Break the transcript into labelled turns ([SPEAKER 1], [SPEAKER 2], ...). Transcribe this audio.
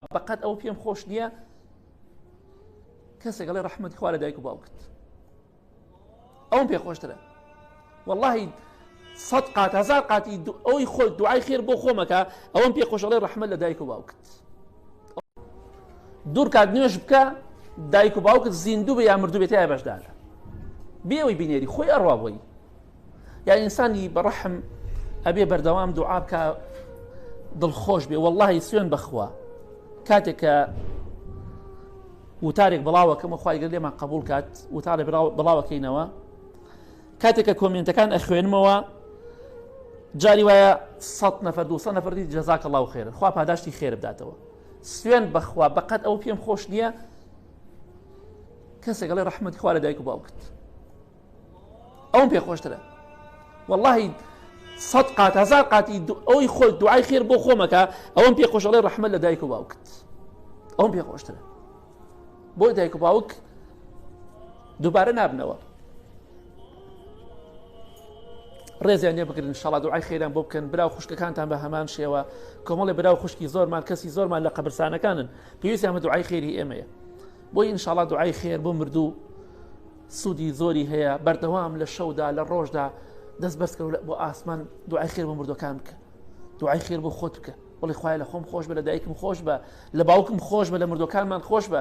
[SPEAKER 1] بەقەد ئەوە پێم خۆش نییە کەسێک ئەڵێ ڕەحمەتی خوا لە دایک و باوکت ئەوم پێ خۆشترە واللهی سەد قات هزار قاتی ئەوی خۆ دوعای خێر بۆ خۆمەکە ئەوم پێ خۆشەڵێ ڕەحمە لە دایک و باوکت دوور کات نوێش بکە دایک و باوکت زیندوو بە یا مردوو بێتە بەشدار بێەوەی بینێری خۆی ئەڕوا بۆی یا ئینسانی بەڕەحم ئەبێ بەردەوام دوعا بکە دڵخۆش بێ واللهی سوێن بخوا کاتێک کە وتارێک بڵاوەکەمە خخوایگە لێمان قبول کات وتارە بڵاوەکەینەوە کاتێک کە کۆمنتەکان ئەخوێنمەوە جاری وایە سە نەفر دو نەفری جەزاکە ڵاو خێرە خوا پاداشتی خێر بداتەوە سوێن بەخوا بەقەت ئەو پێم خۆش نییە کەسێک لە ڕحمەت خوارە دایک و باوکت ئەوم پێ خۆشترە واللهی سەد قات هزار قاتی ئەوی خۆ دوعای خێر بۆ خۆمەکە ئەوم پێ خۆشەڵێ ڕحمە لە دایک و باوکت ئەوم پێ خۆشترە بۆ دایک و باوک دووبارە نابنەوە ڕێزیان لێ بگرن شڵا دوعای خێران بۆ بکەن برا و خوشکەکانتان بە هەمان شێوە کۆمەڵی برا و خوشکی زۆرمان کەسی زۆرمان لە قەبرسانەکانن پێویستیان بە دوعای خێری ئێمەیە بۆی ئینشاڵا دوعای خێر بۆ مردوو سودی زۆری هەیە بەردەوام لە شەودا لە ڕۆژدا دەست بەرزکەەوە بۆ ئاسمان دوعای خێر بۆ مردەکان بکە دوعای خێر بۆ خۆت بکە بڵی خخوای لە خۆم خۆش بە لە دایکم خۆش بە لە باوکم خۆش بە لە مردەکانمان خۆش بە